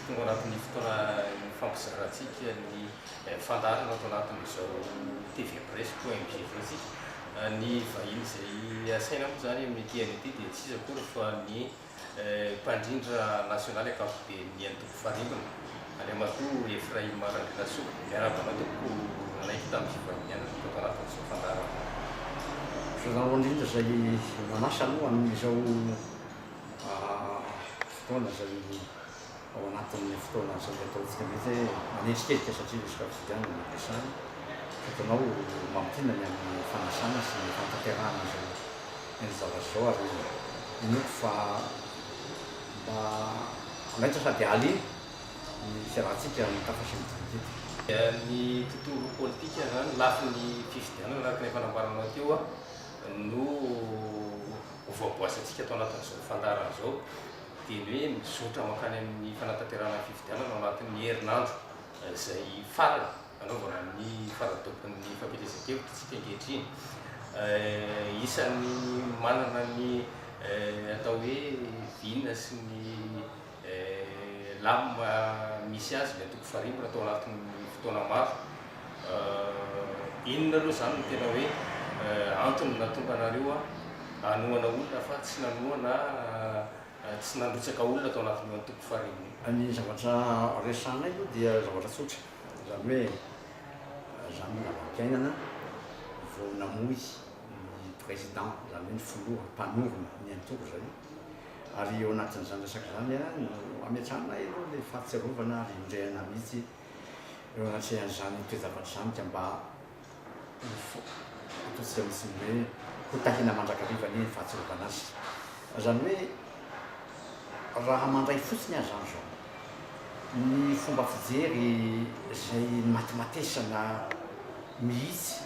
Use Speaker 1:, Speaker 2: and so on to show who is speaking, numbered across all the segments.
Speaker 1: Tonga ao anatin'ny fotoana ifampizaratsika ny fandaharana ato anatin'izao TV Presse koa MGV tsika. Ny vahiny izay asaina moa izany amin'ny TNT dia tsy iza akory fa ny mpandrindra nasionaly ankapoben'ny antoko Farimbona, Andriamatoa Ephraim Randrianasoa. Miarahaba anao tompoko nanaiky tamin'ny fivahinianana teto ato anatin'izao fandaharana izao.
Speaker 2: Ianareo indrindra izay nanasa aloha amin'izao. fotoana izay ao anatin'ny fotoana izay ataontsika mety hoe manenjikenjika satria misy quotidien no resahana. Fotoana ao mamintina ny amin'ny fanasana sy ny fanatanterahana an'izao eny zavatra izao ary inoako fa mba hanaitra sady hahaliana ny fiarahantsika mitafa sy midinika eto. Ny tontolo politika
Speaker 1: izany, lafiny fifidianana araka ny efa nambaranao teo, no Ho voaboasintsika ato anatin'izao fandaharana izao dia ny hoe mizotra mankany amin'ny fanatanterahana ny fifidianana ao anatin'ny herinandro izay farany hanaovana ny faradobon'ny fampielezan-kevitra isika ankehitriny. Isan'ny manana ny atao hoe vina sy ny Eh la mba misy azy ilay toko farimbona tao anatin'ny fotoana maro eh, inona aloha izany no tena hoe eh antony nahatonga anareo ah hanohana olona fa tsy nanoa na eh tsy nandrotsaka olona tao anatin'io antoko farimbona io? Ny zavatra
Speaker 2: resahanay aloha dia zavatra tsotra, izany hoe izany ny zava-piainana vao namoy ny président, izany hoe ny filoha mpanorina ny antoko izay, ary eo anatin'izany resaka izany ihany no ametrahanay aloha ilay fahatsiarovana ary indrehana mihitsy eo anatrehan'izany toe-javatra izany ka mba ho ataontsika mihitsy ny hoe ho tahina mandrakariva anie ny fahatsiarovana azy. Izany hoe raha mandray fotsiny aza an izao ny fomba fijery izay nimatimatesana mihitsy,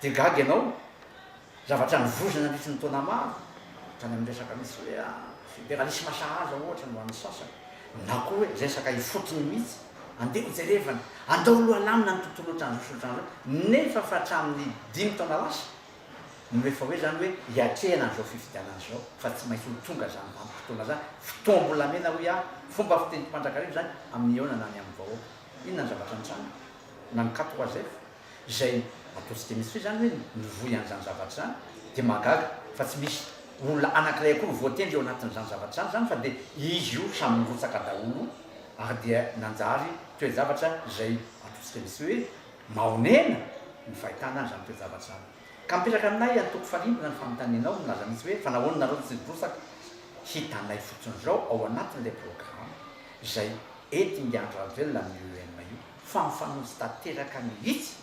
Speaker 2: Dia gaga ianao, zavatra nivozona nandritra ny taona maro, tany amin'ny resaka misy hoe federalisma sahaza ohatra no an'ny sasany, na koa hoe resaka ifotony mihitsy, andeha hojerevana, andao aloha alamina ny tontolo ohatran'izao sy ohatran'izao, nefa fa hatramin'ny dimy taona lasa no efa hoe izany hoe hiatrehana an'izao fifidianana izao, fa tsy maintsy ho tonga izany vanim-potoana izany, fotoam-bolamena hoy aho, fomba fiteny mpandrakariva izany amin'ny Eona na ny amin'ny vahoaka. Inona ny zavatra nitranga? Nankatò Azf. izay ataontsika mihitsy hoe izany hoe mivoy an'izany zavatra izany dia mahagaga fa tsy misy olona anankiray akory voatendry eo anatin'izany zavatra izany izany fa dia izy io samy nirotsaka daholo ary dia nanjary toe-javatra izay ataontsika mihitsy hoe mahonena ny fahitana izany toe-javatra izany ka mipetraka aminay antoko farimbona ny fanontanianao milaza mihitsy hoe fa nahoana nareo no tsy nirotsaka hitanay fotsiny izao ao anatin'ilay programa izay entin'i Andry Rajoelina amin'ny UEM io. fa mifanojo tanteraka mihitsy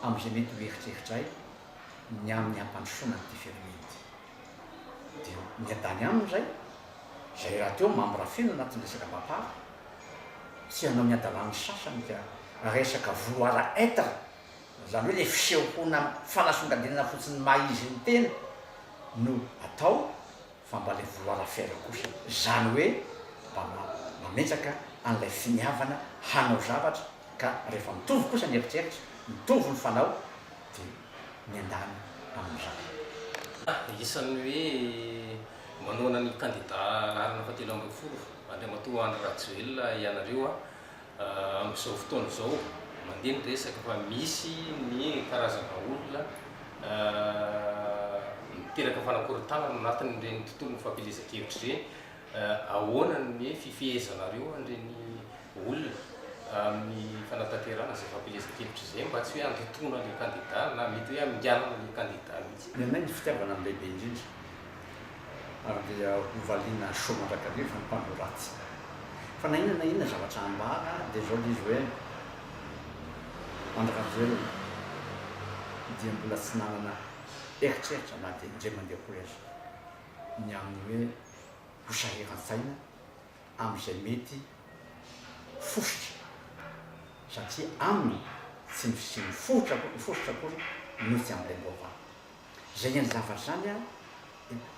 Speaker 2: amin'izay mety ho eritreritray ny amin'ny hampandrosoana an'ity firenena ity. Dia miadany aminy izay, izay rahateo mambra feno anatin'ny resaka Bapar, tsy hanao ny hadalàn'ny sasany ka resaka vouloir être, izany hoe ilay fisehoana fanasongadinana fotsiny ny maha izy ny tena no atao, Fambalevolo arafera kosa izany hoe mba mametraka an'ilay finiavana hanao zavatra ka rehefa mitovy kosa ny eritreritra, mitovy ny fanao dia miandany amin'izany. Dia
Speaker 1: isan'ny hoe manohana ny kandida laharana fahatelo ambin'ny folo, Andriamatoa Andry Rajoelina ianareo. Amin'izao fotoana izao, mandeha ny resaka fa misy ny karazana olona miteraka fanakorontanana ao anatin'ireny tontolon'ny fampielezan-kevitra ireny. Ahoana ny hoe fifehezanareo an'ireny olona amin'ny fanatanterahana izay fampielezan-kevitra izay mba tsy hoe handotoana ilay kandida na mety hoe haminganana ilay kandida mihitsy? Ny anay ny fitiavana no
Speaker 2: lehibe indrindra. ary dia hovaliana soa mandrakariva ny mpandoro ratsy. Fa na inona na inona zavatra hambara dia izao dia izy hoe, Andry Rajoelina dia mbola tsy nanana eritreritra na dia indray mandeha koa aza ny amin'ny hoe ho sahiran-tsaina amin'izay mety fositra satria aminy tsy ny fisian'ny fositra akory no tsy ampiangoam-panahy. Izay ny an'ny zavatra izany an,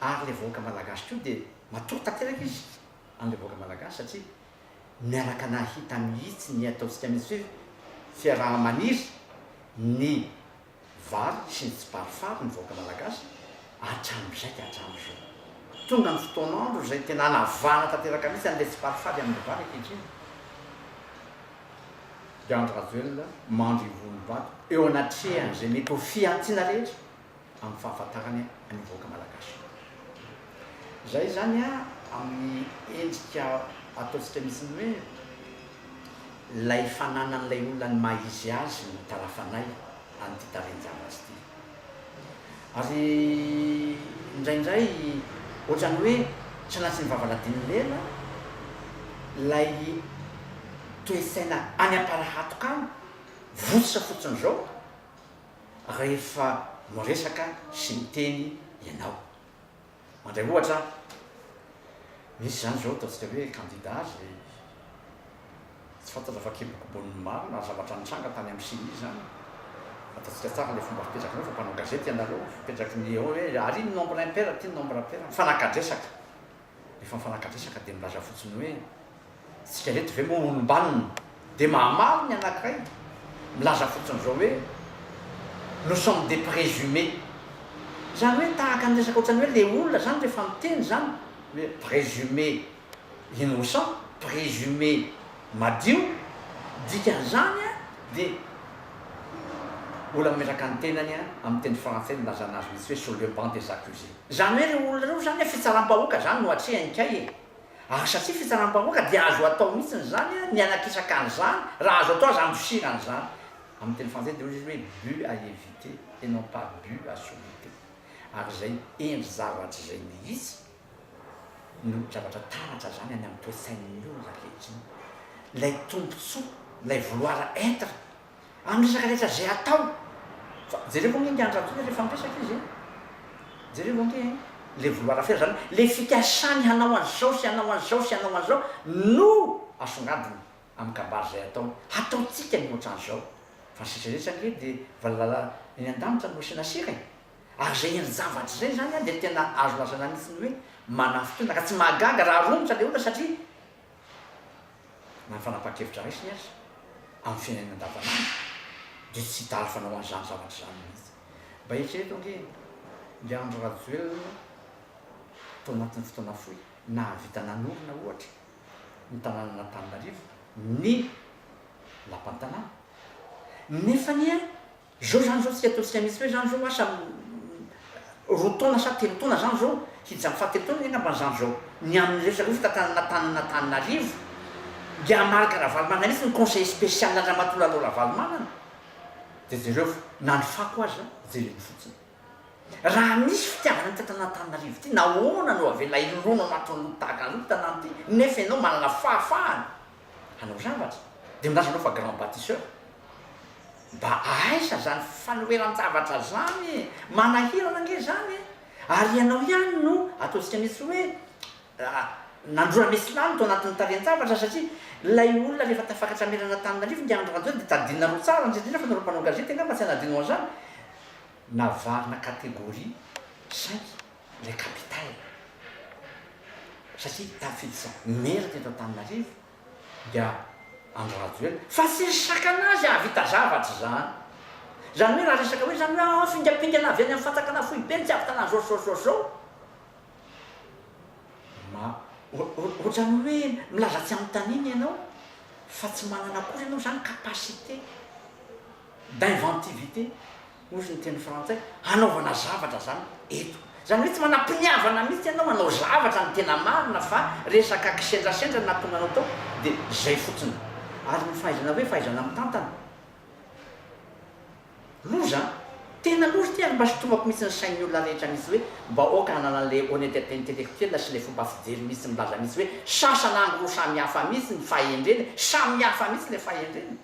Speaker 2: ary ilay vahoaka malagasy koa dia matory tanteraka izy an'ilay vahoaka malagasy satria miaraka nahita mihitsy ny ataontsika mihitsy hoe fiaraha-maniry ny vary sy ny tsiparifary ny vahoaka malagasy hatramin'izay ka hatramin'izao. Tonga ny fotoan'andro izay tena hanavahana tanteraka mihitsy an'ilay tsiparifary amin'ny vary ankehitriny. Diandra Rajoelina mandry ny vohon'ny vato eo anatrehan'izay mety ho fihantsiana rehetra amin'ny fahafantarany ny vahoaka Malagasy. Izay izany amin'ny endrika ataontsika mihitsy ny hoe ilay fananan'ilay olona ny maha izy azy no tara-fanahy an'ity tarehin-javatra ity. Ary indraindray ohatrany hoe sanatry ny vavaladin'ny lela ilay toe-tsaina any am-parahatoka any, votsotra fotsiny izao rehefa miresaka sy miteny ianao. Mandray ohatra aho, misy izany izao ataontsika hoe kandida izay tsy fantatra fa kibokibon'ny maro na zavatra nitranga tany amin'ny CENI izany, fantatsika tsara ilay fomba fipetraka anareo fa mpanao gazety ianareo, fipetraky ny eo hoe ary iny nombre impair ity nombre pair, mifanakadresaka, rehefa mifanakadresaka dia milaza fotsiny hoe Isika ireto ve moa olom-banona dia mahamaly ny anankiray? Milaza fotsiny izao hoe nous sommes des présumés. Izany hoe tahaka ny resaka ohatran'ny hoe ilay olona izany rehefa miteny izany hoe présumé innocent, présumé madio, dikan'izany dia olona mametraka ny tenany amin'ny teny frantsay nilazana azy mihitsy hoe sur le banc des accusés. Izany hoe ireo olona ireo izany fitsaram-bahoaka izany no atrehiny kay e! Ary satria fitsaram-bahoaka dia azo atao mihitsiny izany ny hanakisaka an'izany raha azo atao aza handosirana izany. Amin'ny teny frantsay dia hoy izy hoe but à éviter et non pas but à surmonter. Ary izay endri-javatra izay mihitsy no zavatra taratra izany any amin'ny toe-tsain'ny olona ankehitriny. Ilay tombontsoa, ilay vouloir être Amin'ny resaka rehetra izay atao fa jereo ve ange ingahy Andrantoina rehefa miresaka izy an! jereo ve ange an! ilay Voloharafera izany, ilay fikasany hanao an'izao sy hanao an'izao sy hanao an'izao no asongadiny amin'ny kabary izay ataony, hataontsika ny ohatran'izao fa ny sisa rehetra ange dia valala eny an-danitra no asiana sira e! ary izay endri-javatra izay izany an dia tena azo lazaina mihitsy ny hoe manafin-tolona ka tsy mahagaga raha romotra ilay olona satria na ny fanapahan-kevitra raisiny aza amin'ny fiainany andavanandro dia tsy hita hafa anao an'izany zavatra izany mihitsy. Mba eritrereto ange ilay Andry Rajoelina tao anatin'ny fotoana fohy nahavita nanorina ohatra ny tanànan'Antananarivo ny lapan'ny tanàna nefa anie Zao zany zao tsy atao tsy amitsy hoe zany zao asa roa taona sa telo taona zany zao hijano fahatelo taona anie ngamba zany zao ny amin'ireo zareo fitantanana tanin'Antananarivo dia Marc Ravalomanana mitsy ny conseiller spécial andramatoa Lalao Ravalomanana dia jereo fa na ny fako aza jereny fotsiny raha misy fitiavana ny tantanan'Antananarivo ity nahoana no avela hilolona ao anatin'ny loto tahaka an'izao ity tanàna ity nefa ianao manana fahafahana hanao zavatra dia milaza anao fa grand bâtisseur. Mba aiza zany fanoheran-javatra zany e! Manahirana ange zany e! Ary ianao ihany no ataontsika mihitsy hoe nandroana mesilany tao anatin'ny tarehin-javatra satria ilay olona rehefa tafakatra merana tany narivo ingahy Andry Rajoelina dia tadinina roa tsara indrindra indrindra fa nareo mpanao gazety angamba tsy hanadino an'izany navarina catégorie cinq ilay capitale satria tafiditra merina eto Antananarivo dia Andry Rajoelina fa tsy resaka anazy hahavita zavatra izany. Izany hoe raha resaka hoe izany hoe aah fingampingana avy any amin'ny fanjakana foibe ny tsy ahavitana an'izao sy izao sy izao sy izao. Ma, ohatran'ny hoe milaza tsy anontanina ianao fa tsy manana akory ianao izany capacité. d'inventivité, hozy ny teny frantsay, hanaovana zavatra zany eto. Zany hoe tsy manam-piniavana mihitsy ianao hanao zavatra ny tena marina fa resaka kisendrasendra natonga anao tao de zay fotsiny. Ary ny fahaizana hoe fahaizana mitantana. Loza an! Tena loza ity ary mba sintomako mihitsy ny sain'ny olona rehetra mihitsy hoe mba aoka hanana an'ilay honnetete intellectuelle sy ilay fomba fijery mihitsy milaza mihitsy hoe sasana angro samy hafa mihitsy ny fahendrena e! Samy hafa mihitsy ilay fahendrena.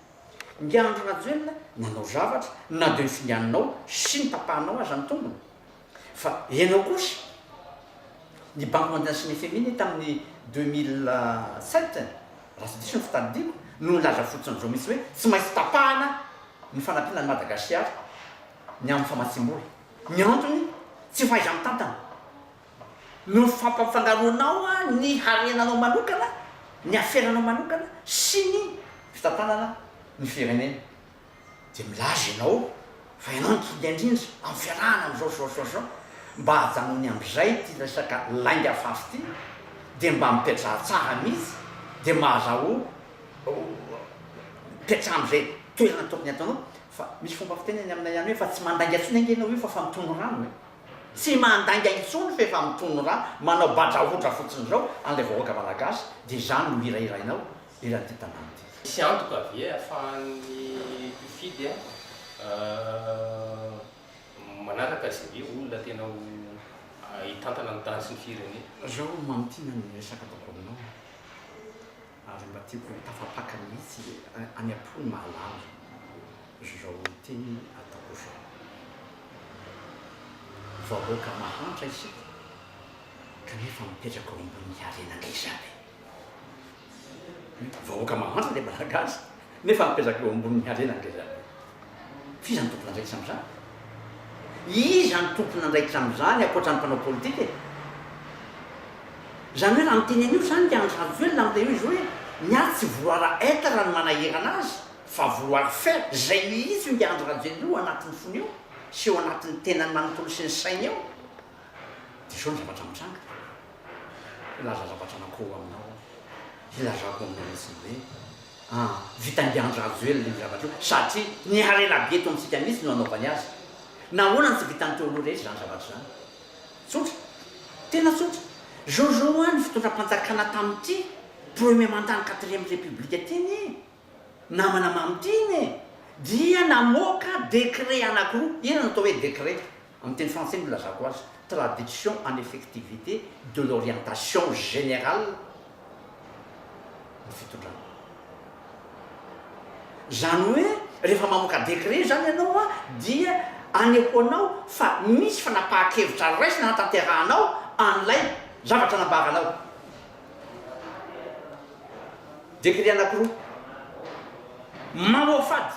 Speaker 2: Ingahy Andry Rajoelina nanao zavatra na dia ny finganinao sy ny tapahanao aza ny tongony fa ianao kosa ny banque mondiale sy ny fmi anie tamin'ny deux mille sept raha tsy diso ny fitadidiako no nilaza fotsin'izao mihitsy hoe tsy maintsy tapahana ny fanampiana an'i Madagasiara ny amin'ny famatsiam-bola. Ny antony tsy fahaiza-mitantana. Noho ny fampanfangaroanao ny harenanao manokana, ny aferanao manokana sy ny fitantanana ny firenena dia milaza ianao fa ianao no tonga indrindra amin'ny fiarahana amin'izao zao zao zao, mba ajanony amzay ity resaka lainga fafy ity dia mba mipetraha tsara mihitsy dia mahazaho mipetraha amzay toerana tokony ataonao fa misy fomba fiteny any aminay any hoe fa tsy mandainga tsony ange ianao io fa fa mitony rano e. Tsy mandainga intsony f'efa mitono ra manao badrahodra fotsiny zao an'ilay vahoaka malagasy dia izany no hirahirainao eran'ity tanàna ity. Misy antoka ve
Speaker 1: ahafahan'ny mpifidy a manaraka izay hoe olona tena ho hitantana ny tany sy ny firenena? Zao mamintina
Speaker 2: ny resaka ataoko aminao a. ary mba tiako ho tafapaka mihitsy le any ampony mahalala zao teny ataoko zao. Vahoaka mahantra isika kanefa mipetraka ao ambony harena ngeza be. Vahoaka mahantra le malagasy. Nefa mipetraka eo ambonin'ny harena ny rehetra. F'iza no tompon'andraikitra amin'izany? Iza no tompon'andraikitra amin'izany ankoatra ny mpanao politika e? Izany hoe raha miteny an'io izany i Andry Rajoelina amin'ilay hoe izy hoe miady tsy vouloir être no manahirana azy fa vouloir faire, izay mihitsy hoy i Andry Rajoelina io anatin'ny fony eo sy eo anatin'ny tenany manontolo sy ny sainy eo. Dia izao ny zavatra mitranga. Hilaza zavatra anankiroa aminao aho. Hilazako aminao mihitsiny hoe an, vitan'i Andry Rajoelina io zavatra io satria ny harena be eto amintsika mihitsy no anaovany azy. Nahoana no tsy vitan'ny Teoloha rehetra izany zavatra izany? Tsotra. Tena tsotra. Jojo an, ny fitondram-panjakana tamin'ity premier mandat-n'ny quatrième république ity anie. Namana mamy tim e! dia namoaka décret anankiroa, inona no atao hoe décret? amin'ny teny frantsay no ilazako azy, Traduction en effectivité de l'orientation générale ny fitondrana. Izany hoe rehefa mamoaka décret izany ianao dia anehoanao fa misy fanapahan-kevitra raisina hanatanterahanao an'ilay zavatra nambaranao. Dekret anankiroa mamoafady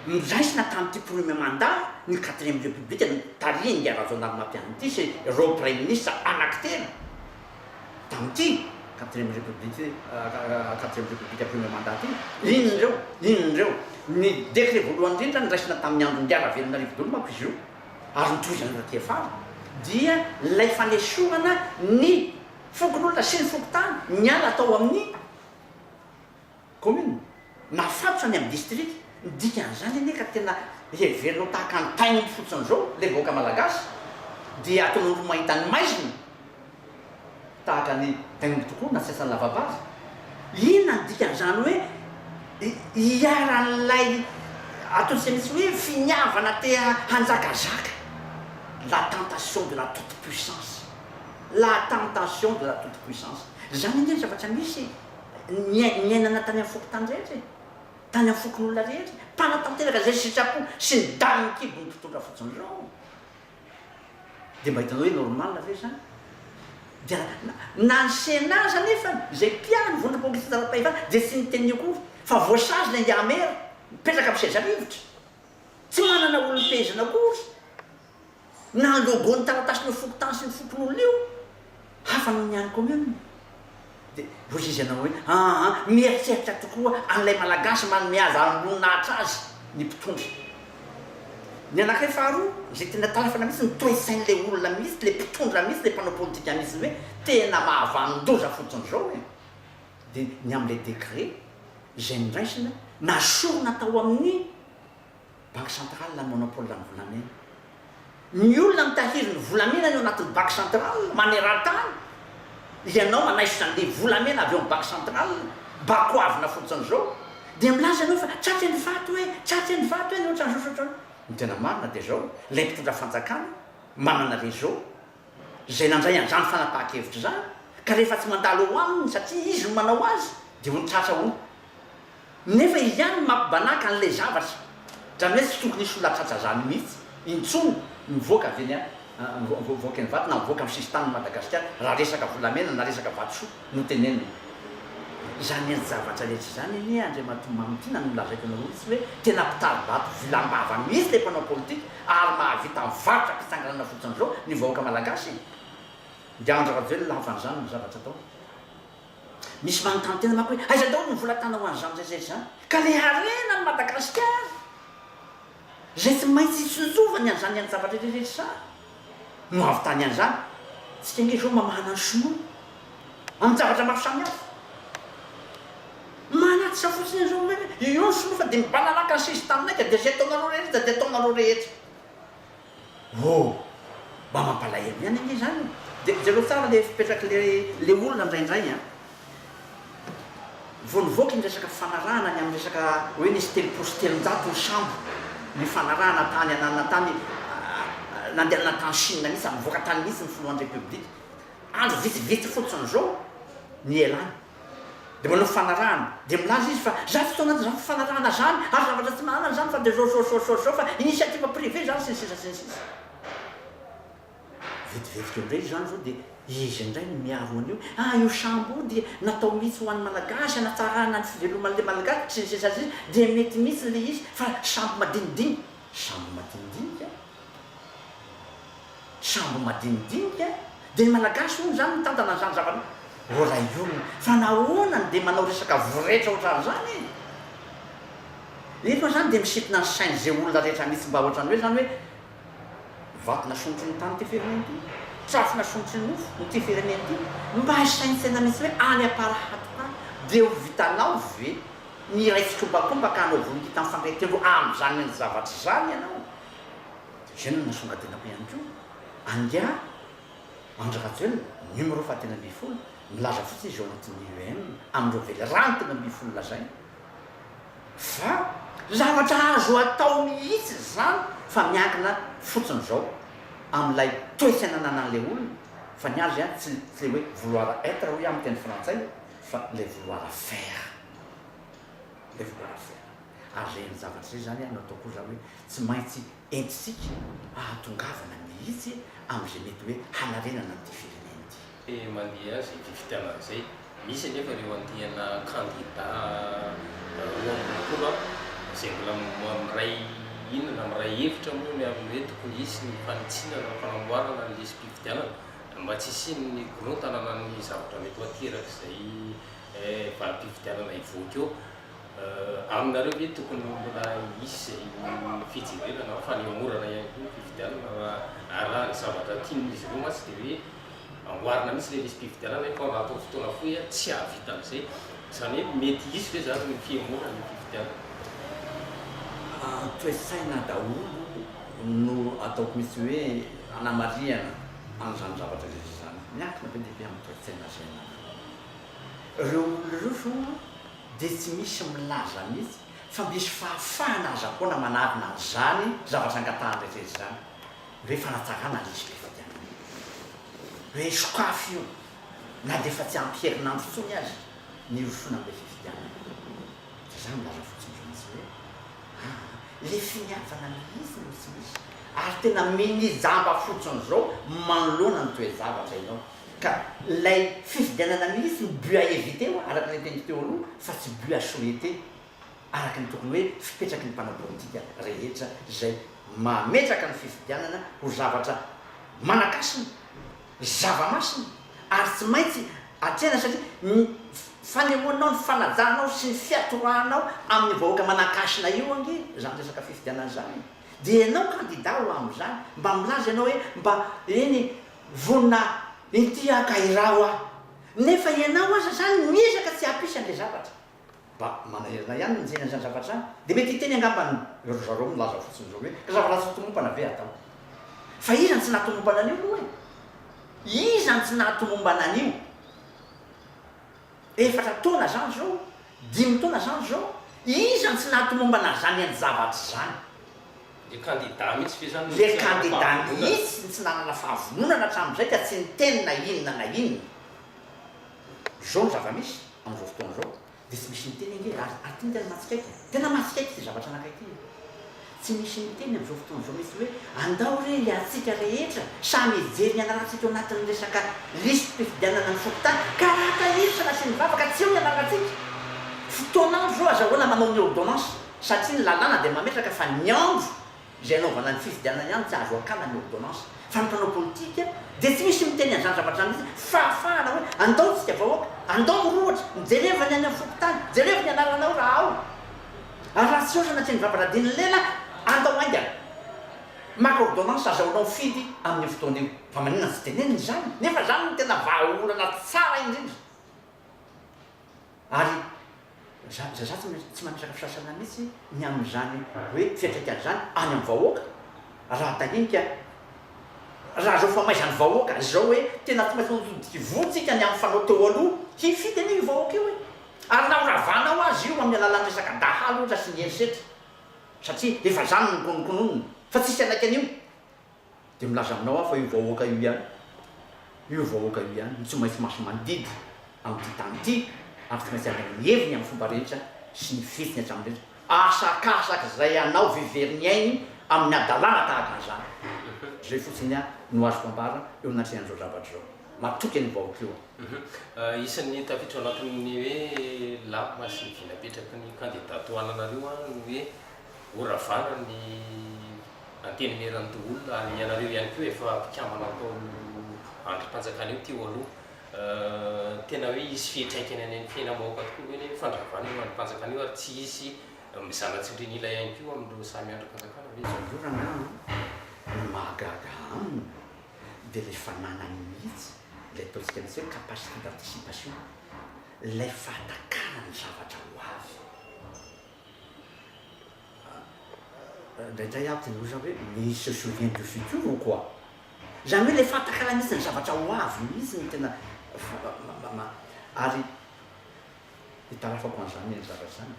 Speaker 2: noraisina tamin'ity Premier Mandat ny Quatrième République notarihin'ingahy Rajaonarimampianina ity sy ireo Praiminisitra anankitelo tamin'ity Quatrième République Quatrième République Premier Mandat ity. Inona ireo? Inona ireo? Ny Dekret voalohany indrindra noraisina tamin'ny andron'ingahy Ravelonarivo daholo manko izy io ary notohizan'i Rakiafara dia ilay fanesorana ny Fokonolona sy ny fokontany niala tao amin'ny kaominina, nafatotra ny amin'ny distrika. Ny dikan'izany anie ka tena heverina ho tahaka ny tain'omby fotsiny izao ilay vahoaka malagasy dia ataon'olona ho mahita ny maizina tahaka ny tain'omby tokoa na tsy asan'ny lava-bary. Inona ny dikan'izany hoe iharan'ilay antony izay misy hoe finiavana te hanjakazaka, la tentation de la toute puissance. La tentation de la toute puissance. Izany anie ny zavatra misy e! Niain, niainana tany amin'ny fokontany rehetra e! Tany amin'ny fokonolona rehetra e! Mpanatanteraka izay sitrapo sy ny danin'ny kibon'ny mpitondra fotsiny ireo. Dia mba hitanao hoe normal ve izany? Dia na, na ny Sénat aza anefa, izay mpiaro ny vondrona populista ara-pahefana dia tsy niteny akory fa voasazy ilay Ndiamera mipetraka amin'ny seza rivotra. Tsy manana olom-pehezina akory. na ny logo ny taratasin'io fokontany sy ny fokonolona io hafa noho ny any commune dia hoy izy ianao hoe aa mieritreritra tokoa an'ilay malagasy manome azy hanolonahitra azy ny mpitondra ny anankiray faharoa izay tena talafana mihitsy ny toetsain'ilay olona mihitsy ilay mpitondra mihitsy ilay mpanao politika mihitsy hoe tena mahavanon-doza fotsiny izao e dia ny amin'ilay décret izay noraisina na sorona tao amin'ny Banque centrale a monopole ny volamena. Ny olona mitahiry ny volamena ny ao anatin'ny Banque centrale manerantany. Ianao manaisotra an'ilay volamena avy ao amin'ny Banque centrale, bakoavina fotsiny izao, dia milaza ianao fa tratry ny vato e, tratry ny vato e, na ohatran'izao sy ohatran'izao. Ny tena marina dia izao, ilay mpitondra fanjakana manana réseau izay nandray an'izany fanapahan-kevitra izany, ka rehefa tsy mandalo eo aminy satria izy no manao azy dia ho nitratra ahoana? Nefa izy ihany no mampibanàka an'ilay zavatra, dra mety tsy tokony hisy olona hahatratra izany mihitsy intsony mivoaka avy eny mivoaka eny Ivato na mivoaka amin'ny sisin-tanin'i Madagasikara raha resaka volamena na resaka vatosoa. no tenenina. Izany endri-javatra rehetra izany anie Andriamatoa Mamy ity na nolazaiko anareo mihitsy hoe tena mpitari-bato vilam-bava mihitsy ilay mpanao politika ary mahavita mivarotra fitsanganana fotsiny izao ny vahoaka malagasy e! Dia Andry Rajoelina lava an'izany ny zavatra ataony. Misy manontany tena manko hoe aiza daholo ny vola tana ho an'izany rehetra rehetra izany? Ka le harena an'i Madagasikara! izay tsy maintsy hitsinjovany an'izany ny anjavatra ireretra no avy tany an'izany. Isika ange izao mamahana ny sinoa amin-javatra maro samihafa. Manatitra fotsiny an'izao hoe io ny sinoa fa dia mibalalaka ny sisy tamin'aika dia izay ataonareo rehetra dia ataonareo rehetra. Oh! Mba mampalahelo ihany ange izany. Dia jereo tsara ilay fipetrak'ilay olona indraindray an! Vao nivoaka iny resaka fanarahana ny amin'ny resaka hoe nisy telopolo sy telonjato ny sambo nifanarahana tany ananona tany nandehanana tany Chine mihitsy, nivoaka tany mihitsy ny filohan'ny Repoblika. Andro vitsivitsy fotsiny izao nielany dia manao fanarahana dia milaza izy fa izaho tsy tao anatin'izany fanarahana izany ary zavatra tsy manana izany fa dia izao izao izao izao fa initiative privée izany sy ny sisa sy ny sisa. Vetivetika eo indray izany izao dia izy indray no miaro an'io. Ah io sambo io dia natao mihitsy ho an'ny Malagasy hanatsarana ny fiveloman'ilay Malagasy sy ny sisa sy ny sisa dia mety mihitsy ilay izy fa sambo madinidinika, sambo madinidinika, sambo madinidinika dia ny Malagasy hono izany mitantana an'izany zavatra izany. Ô ray olona fa nahoana no dia manao resaka voretra ohatran'izany e? Efa izany dia misintona ny sain'izay olona rehetra mihitsy mba ohatran'ny hoe izany hoe, Vato nasondrotry ny tany ity firenena ity, trafo nasondrotry ny nofo ity firenena ity, mba isaintsaina mihitsy hoe any Amparahady koa dia ho vitanao ve ny hiray fikombakomba ka hanao vono kintana fandray tendro amin'izany endri zavatra izany ianao? Dia izay no nasongadenako ihany koa angaha Andry Rajoelina numéro fahatelo ambin'ny folo, milaza fotsiny izy ao anatin'ny UEM amin'ireo velirano telo ambin'ny folo lazainy, Fa zavatra azo atao mihitsy izany fa miankina fotsiny izao amin'ilay toetsaina ananan'ilay olona fa ny azy an tsy le hoe vouloir être hoy aho amin'ny teny frantsay fa le vouloir faire le vouloir faire ary ireny zavatra ireny izany an no ataoko hoy za hoe tsy maintsy entintsika hahatongavana mihitsy amin'izay mety hoe hanarenana an'ity firenena ity. Te mandeha azy ity
Speaker 1: fitiavana izay. Misy anefa ireo andiana kandida roa amby roapolo izay mbola miray hina na miray hevitra moa ny amin'ny hoe tokony hisy ny fanitsiana na ny fanamboarana ny lisi-pifidianana mba tsy hisian'ny korontana na ny zavatra mety ho aterak'izay valim-pifidianana hivoaka eo. Aminareo ve tokony mbola hisy izay fijerevana va fa ny hamorana ihany koa ny fifidianana raha arahan'ny zavatra tian'izy ireo mantsy dia hoe amboarina mihitsy ilay lisi-pifidianana hoe fa atao fotoana fohy ary tsy hahavita an'izay. Izany hoe mety hisy ve izany ny fihemorana ny fifidianana?
Speaker 2: Toe-tsaina daholo no ataoko mihitsy hoe anamarihana an'izany zavatra rehetra izany. Miankina be dia be amin'ny toe-tsaina izay anananao. Ireo olona ireo zao an dia tsy misy milaza mihitsy fa misy fahafahana aza foana manarina an'izany zavatra angatahany rehetra rehetra izany hoe fanatsarana ilay izy ilay fifidianana hoe sokafy io na dia efa tsy ampy herinandro intsony aza ny hirosoana amin'ilay fifidianana dia za milaza fotsiny indray mihitsy hoe aa ilay finiavana mihitsy no tsy misy ary tena minijamba fotsiny izao manoloana ny toe-javatra ianao Ka ilay fifidianana mihitsy no but à éviter ho'a, araka ilay teniko teo aloha, fa tsy but à souhaiter, araka ny tokony hoe fipetraky ny mpanao politika rehetra izay mametraka ny fifidianana ho zavatra manan-kasina, zava-masina, ary tsy maintsy atrehina satria ny fanehoanao ny fanajanao sy ny fiatoranao amin'ny vahoaka manan-kasina io ange izany resaka fifidianana izany e! Dia ianao kandida ho amin'izany, mba milaza ianao hoe mba eny e, Vonona inty haka iraho aho. Nefa ianao aza izany miezaka tsy hampisy an'ilay zavatra. Mba manahirana ahy ihany ny mijery an'izany zavatra izany. Dia mety hiteny angamba ny ry zareo milaza fotsiny izao hoe, ry zafilahy tsy tomompana ve atao. Fa iza no tsy nahatomombana an'io moa e? Iza no tsy nahatomombana an'io? Efatra taona zany zao, dimy taona zany zao, iza no tsy nahatomombana zany any zavatra zany? Le
Speaker 1: candidat mihitsy ve zany no tsy nanana fahavononana? Le candidat
Speaker 2: mihitsy no tsy nanana fahavononana hatramin'izay ka tsy niteny na inona na inona. Zao no zava-misy amin'izao fotoana zao dia tsy misy miteny ange ary tena mahatsikaiky, tena mahatsikaiky ity zavatra anankiray ity. Tsy nisy niteny amin'izao fotoana izao mihitsy hoe andao re hiatsika rehetra samy hijery ny anarantsika eo anatin'ny resaka lisi-pifidianana ny fokontany ka raha tahiry sy nasiany vavaka tsy eo ny anarantsika. Fotoana andro izao azahoana manao ny ôrdônansy satria ny lalàna dia mametraka fa ny andro izay anaovana ny fifidianana ihany tsy azo akana ny ôrdônansy fa ny mpanao politika dia tsy misy miteny an'izany zavatra izany mihitsy fahafahana hoe andao tsika vahoaka andao mirohotra mijereva ny any amin'ny fokontany jerevo ny anaranao raha ao Ary raha tsy ôrana tsy mivabra dia ny lela andao haingana. Maka ôrdônansy azahoanao fidy amin'io fotoana io. Fa maninona tsy tenenina izany? Nefa izany no tena vahaolana tsara indrindra. Ary za za za tsy mametraka fisasana mihitsy ny amin'izany hoe fiantraikany izany any amin'ny vahoaka. Raha tahian'ika raha izao famaizan'ny vahoaka izao hoe tena tsy maintsy nododivontsika ny amin'ny fanao teo aloha hifidy anio io vahoaka io e! Ary naharavanao azy io amin'ny alalan'ny resaka dahalo ohatra sy ny herisetra, satria efa izany no nokononkononiny, fa tsisy hanaiky an'io. Dia milaza aminao aho fa io vahoaka io ihany, io vahoaka io ihany no tsy maintsy maso-mandidy amin'ity tany ity, ary tsy maintsy handray ny heviny amin'ny fomba rehetra sy ny fihetsiny hatramin'ny rehetra. Asakasak'izay anao very ny ainy amin'ny hadalana tahaka an'izany. Izay fotsiny aho no azoko ambara eo anatrehan'izao zavatra izao. mampitoky an'io vahoaka io an. Isan'ny
Speaker 1: tafiditra ao anatin'ny hoe lama sy ny vy napetraky ny kandida tohananareo an ny hoe ho ravana ny antenimieran'ny doholona ary ianareo ihany koa efa mpikambana atao andrim-panjakana io teo aloha. Tena hoe hisy fiantraikany any amin'ny fiainam-bahoaka tokoa ve ny fandravana io andrim-panjakana io ary tsy hisy mizana tsindrin'ila ihany koa amin'ireo samy andrim-panjakana ve izao? Io raha ny amiko no
Speaker 2: mahagaga aminy. dia ilay fananany mihitsy ilay ataontsika an'izay hoe capacité d'anticipation, ilay fahatakarany ny zavatra ho avy. Indraindray aho tia miroso aho hoe mais il se souvient du futur ou quoi? Izany hoe ilay fahatakarany mihitsy ny zavatra ho avy mihitsy no tena ary Itarafako an'izany ny anjara zany.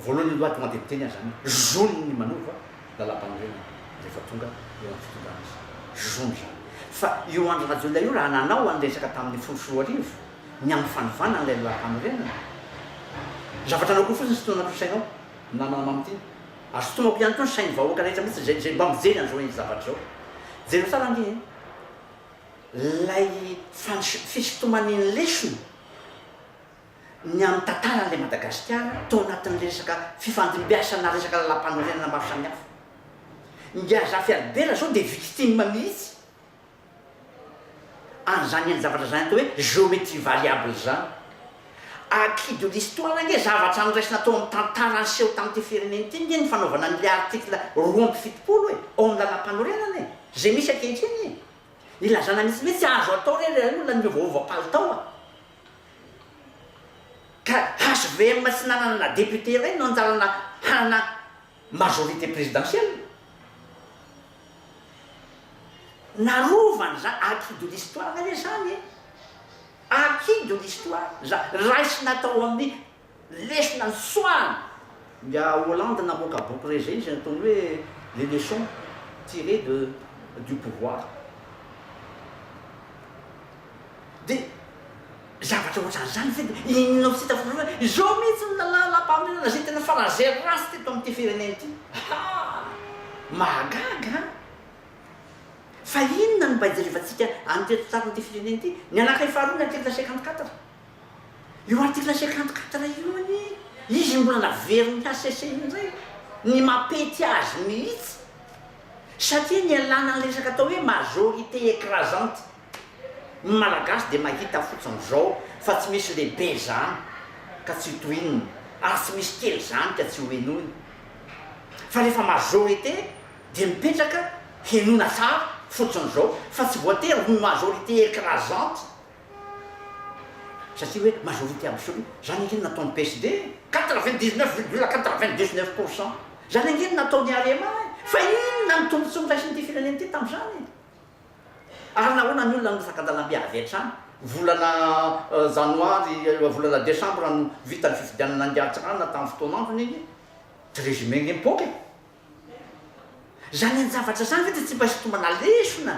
Speaker 2: Voalohany aloha tonga dia miteny aho zany hoe zony ny manova lalampanorenana rehefa tonga eo amin'ny fitondrana izy. Zony zany. Fa io Andry Rajoelina io raha nanao an'ny resaka tamin'ny folo sy roa arivo ny amin'ny fanovana an'ilay lalampanorenana, zavatra anaoko io fotsiny sintonana anaty sainao ny namana mamity iny. Ary sintonako ihany koa ny sain'ny vahoaka rehetra mihitsy izay mba mijery an'izao zavatr'izao. Jereo tsara anie e! Ilay fandrisiako fisintomany ny lesona ny amin'ny tantaran'ilay Madagasikara tao anatin'ny resaka fifandimbiasana resaka lalampanorenana maro samihafa. Ingahy Zafy Albert izao dia victime mihitsy an'izany hain-javatra izany atao hoe géométrie variable izany. Acquis de l'histoire ange zavatra noraisina tao amin'ny tantara niseho tamin'ity firenena ity ange ny fanaovana an'ilay article roa amby fitopolo e, ao amin'ny lalampanorenana e, izay misy ankehitriny e. Ilazana mihitsy hoe tsy azo atao re ilay olona niova-hova palitao a! Ka HVM tsy nanana na député iray no anjarana hanana majorité présidentielle. Narovany izany, acquis de l'histoire ve izany e? Acquis de l'histoire izany, raisina tao amin'ny. Lesona ny fisoahana! Ingahy Hollande namoaka boky re izay izay nataony hoe Les leçons tirées de du pouvoir. Dia zavatra ohatran'izany ve dia inona no tsy hita foana hoe izao mihitsy no lalàm-pahamarinana izay tena fa laser ratsy teto amin'ity firenena ity? Haa! Mahagaga an! Fa inona no mba ijerevantsika an'ity antitsarin'ity firenena ity? Ny anankiray faharoa ny article cinquante quatre. Io article cinquante quatre io anie izy mbola naverin'ny HCC indray ny mampety azy mihitsy satria nialana ny resaka atao hoe majorité écrasante. Ny Malagasy dia mahita fotsiny izao fa tsy misy lehibe izany ka tsy tohinina ary tsy misy kely izany ka tsy hohenoina fa rehefa majorité dia mipetraka henoina tsara fotsiny izao fa tsy voatery ho majorité écrasante. Satria hoe majorité absolue. Izany ange no nataon'ny PSD e! Quatre-vingt-dix-neuf virgule quatre-vingt-dix-neuf pour cent. Izany ange no nataon'ny Arema e! Fa inona ny tombontsoa noraisin'ity firenena ity tamin'izany e? Ary nahoana ny olona no saka-dalambe avy hatrany? Volana janoary, volana desambra no vita ny fifidianana angatsra na tamin'ny fotoan'androny ange. Tsy résumé ange mipoaka e! Zany an javatra zany ve de tsy mba hitomana lesona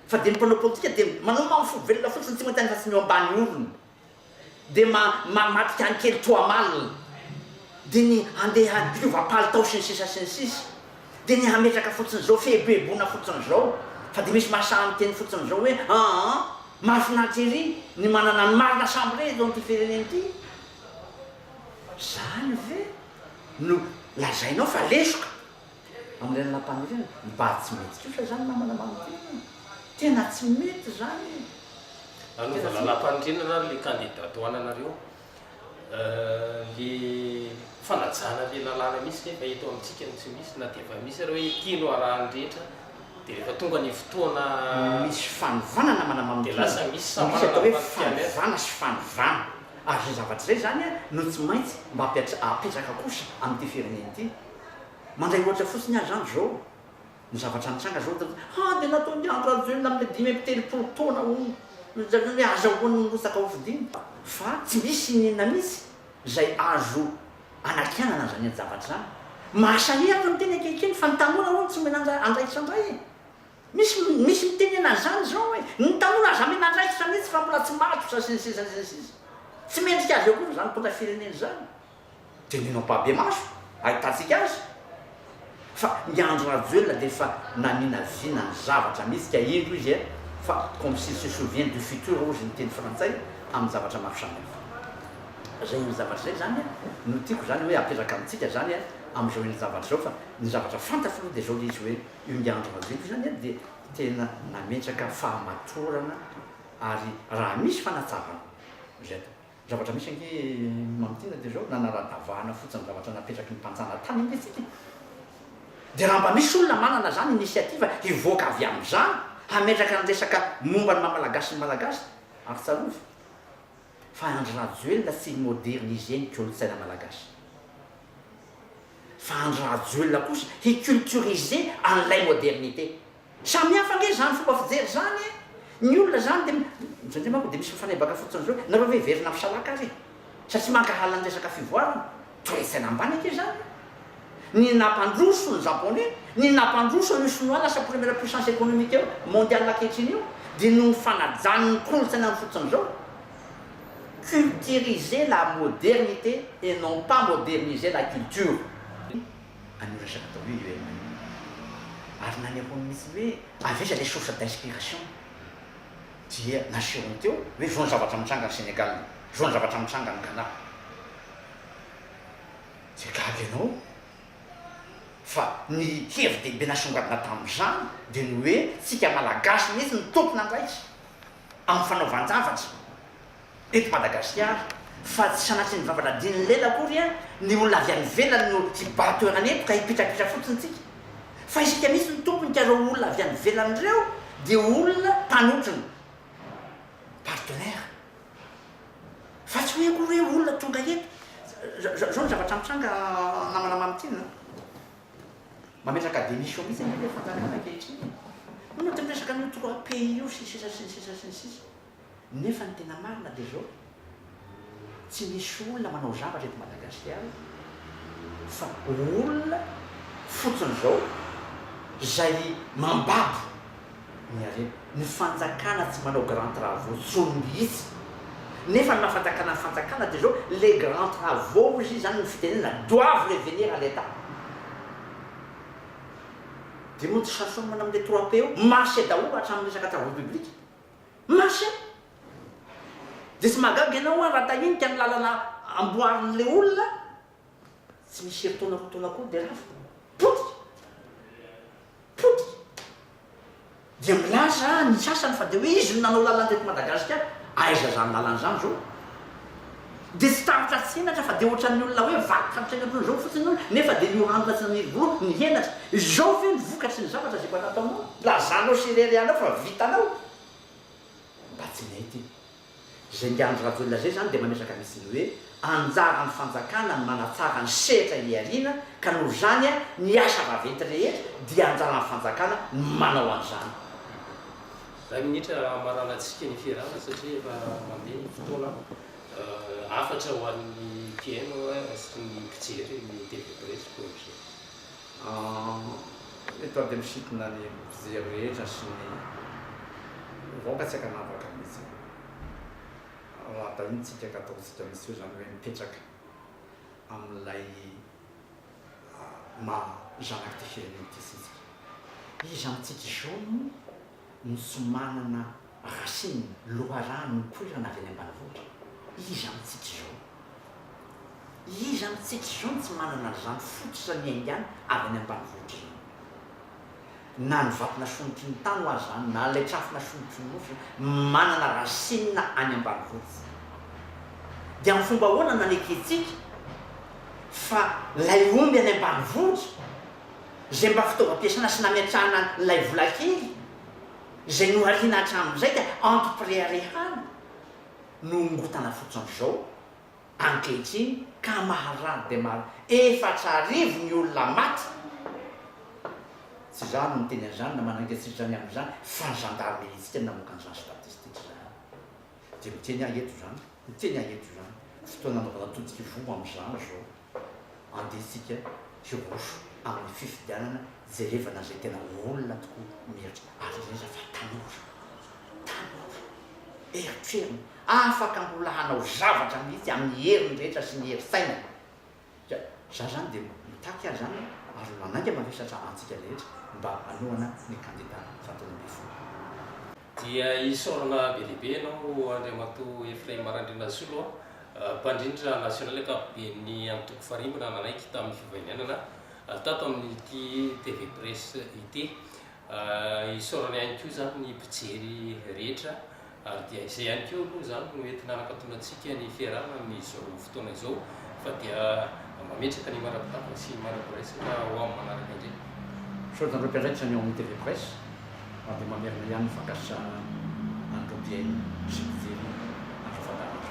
Speaker 2: fa de ny mpanao politika de manao maha fo velona fotsiny tsy maty any fa tsy ny eo ambany orony de ma ma maty any kely toa malina de ny handeha hiova palitao sy ny sisa sy ny sisa de ny hametraka fotsiny zao fieboebona fotsiny zao fa de misy mahasaha miteny fotsiny zao hoe aa mahafinaritra ery ny manana ny marina sambray eto amty firenena ty. Zany ve no lazainao fa lesoka amin'ireny lapan'ireny ireny? Mba tsy mety kosa zany namana mamintina e! Tena tsy mety zany e!
Speaker 1: Nanovana lapan'ireny ra le kandida ato ananareo le fanajana le lalàna misy nefa eto amintsika no tsy misy na dia efa misy ary hoe ity no arahan'ny rehetra dia rehefa tonga ny fotoana misy
Speaker 2: fanovana namana mamintina dia lasa misy
Speaker 1: sambarana
Speaker 2: fanovana sy fanovana ary izay zavatra izay izany no tsy maintsy mba apetraka kosa amin'ity firenena ity. Mandray ohatra fotsiny aho izany izao, ny zavatra nitranga izao teto, ha dia nataon'i Andry Rajoelina amin'ny dimy amby telopolo taona hono, izany hoe azahoany mirotsaka hofidiana. Fa tsy misy inona mihitsy izay azo anakianana an'izany ady-javatra izany. Mahasahirana ny teny ankehitriny fa ny tanora hono tsy omena andraikitra indray e! Misy misy miteny anazany izao hoe ny tanora aza amena andraikitra mihitsy fa mbola tsy matotra sy ny sisa sy ny sisa. Tsy mendrika azy eo koa izany mpitondra firenena izany. Teneno ampahibemaso ahitantsika azy fa i Andry Rajoelina dia efa naninavina ny zavatra mihitsy ka indro izy eh fa comme s'il se souvient du futur hozy ny teny frantsay amin'ny zavatra maro samihafa. Izay iny zavatra izay izany eh no tiako izany hoe apetraka amintsika izany eh amin'izao iny zavatra izao fa ny zavatra fantatro aloha dia izao ilay izy hoe io ny andro madinika io zany dia tena nametraka fahamatorana ary raha misy fanatsavan izay atao zavatra misy ange mamintina dia zao nanara-davahana fotsiny zavatra napetraky ny mpanjanatany ange tsika e dia raha mba misy olona manana zany initiative hivoaka avy amizany hametraka ny resaka momba ny maha-malagasy ny malagasy ary tsarovy fa Andry Rajoelina tsy hi-moderniser ny kolontsaina malagasy. Fa Andry Rajoelina kosa hi culturiser an'ilay modernité. Samy hafa ange izany fomba fijery izany e! Ny olona izany dia indraindray manko dia misy mifanebaka fotsiny izao hoe nareo ve hiverina amin'ny salaka ary e! Sa tsy mankahala ny resaka fivoarana? Toe-tsaina ambany ange izany e! Ny nampandroso ny Japonais, ny nampandroso an'io Sinoa lasa première puissance économique mondiale ankehitriny io dia noho ny fanajan'ny kolontsainany fotsiny izao. culturiser la modernite et non pas moderniser la culture. An'io resaka atao io Yoel Manuel io. Ary nanehoany mihitsy hoe avy aiza ilay source d'inspiration. Dia nasehony teo hoe izao ny zavatra mitranga any Sénégal, izao ny zavatra mitranga any Ghana. Dia gaga ianao fa ny hevi-dehibe nasongadina tamin'izany dia ny hoe tsika Malagasy mihitsy no tompon'andraikitra. amin'ny fanaovan-javatra eto Madagasikara fa tsy sanatria ny vava nadinin'ny lela akory an, ny olona avy any ivelany no hibaha toerana eto ka hipitrapitra fotsiny tsika fa isika mihitsy no tompony ka ireo olona avy any ivelany ireo dia olona mpanotrona, partenaires, fa tsy hoe akory hoe olona tonga eto, zao ny zavatra mitranga namana Mamintina an. Mametraka démission mihitsy anie le fanjakana ankehitriny e! Hono aty miresaka an'io trois pays io sy ny sisa sy ny sisa sy ny sisa. Nefa ny tena marina dia zao, tsy misy olona manao zavatra eto Madagasikara fa olona fotsiny zao zay mambabo. ny harena. Ny fanjakana tsy manao grand travaux tsony mihitsy. Nefa ny maha fanjakana ny fanjakana dia zao, les grand travaux hozy izy any ny fitenenana doivent revenir à l'Etat. Dia mody sasao mana amin'ilay trois P eo, marche daholo hatramin'ny resaka travaux publics. Marche! Dia tsy mahagaga ianao an raha tahinika ny lalana amboarin'ilay olona Tsy misy herintaona akory taona akory dia rava. Potika! Potika! Dia milaza ny sasany fa dia hoe izy no nanao lalana teto Madagasikara. Aiza izany lalana izany izao? Dia tsy tahotra tsenatra fa dia ohatran'ny olona hoe vaky tantsaina toy izao fotsiny io nefa dia nioranona tsy nanirivory ny henatra. Izao ve ny vokatry ny zavatra izay efa nataonao? Lazanao sy ireharehanao fa vitanao? Mba tsy nety iny. Izay dia Andry Rajoelina izay izany dia mametraka vitsy ny hoe anjaran'ny fanjakana ny manatsara ny sehatra eny aoriana ka noho izany ny asa vaventy rehetra dia anjaran'ny fanjakana ny manao an'izany. Iray
Speaker 1: minitra hamaranantsika ny fiarahana satria efa mandeha ny fotoana. Hafatra ho an'ny PM sy ny mpijery ny TV Presse Bourget.
Speaker 2: Eto aho dia misintona ny mpijery rehetra sy ny vahoaka tsy ankanavaka mihitsy raha tahintsika ka ataontsika misy hoe izany hoe mipetraka amin'ilay maha zanak'ity firenena ity isika. Iza amintsika izao no. Nosy manana racine, loharano nipoirana avy any ambanivohitra. Iza amintsika izao? Iza amintsika izao no tsy manana an'izany fototra niaingany avy any ambanivohitra izany? Na ny vato nasonotry ny tano aza izany, na ilay trafo nasonotry ny nosy, manana racine any ambanivohitra. Dia amin'ny fomba ahoana no nanekentsika fa ilay omby any ambanivohitra izay mba fitaovam-piasana sy nametrahana an'ilay vola kely izay nohariana hatramin'izay dia antom-pireharehana no nongotana fotsiny izao ankehitriny ka maharary dia maharary efatra arivo ny olona maty tsy izaho no miteny an'izany na manainga tsy izany amin'izany fa ny zandarimeriantsika no namoaka an'izany statistika izany dia miteny aho eto izany miteny aho eto izany fotoana anaovana todika ivoho amin'izany izao. Andeha isika hiroso amin'ny fifidianana jerevana izay tena olona tokoa mihatra ary indrindra indrindra fa tanora. Tanora. Eritreriny. Afaka mbola hanao zavatra mihitsy amin'ny heriny rehetra sy ny hery sainany. Ka za zany dia mitaky ary zany ary manainga mavesatra antsika rehetra mba hanohana ny kandida fahatelo ambin'ny folo. Dia
Speaker 1: isaorana be dia be ianao Andriamatoa Ephraim Randrianasolo a, mpandrindra nasionaly ankapoben'ny antoko Farimbona nanaiky tamin'ny fivaininanana tato amin'ity TV Press ity. Isaorana ihany koa izany ny mpijery rehetra ary dia izay ihany koa aloha izany no entina hanakatona antsika ny fiarahana amin'izao fotoana izao fa dia mametraka ny mara-pitavana sy ny mara-piraisana ho amin'ny manaraka indray. Misaotra anareo
Speaker 2: mpiandraikitra ny ao amin'ny TV Press. Na dia mamerina ihany ny fankasitrahana an'ireo mpihaino sy mpijery andro fakan'andro.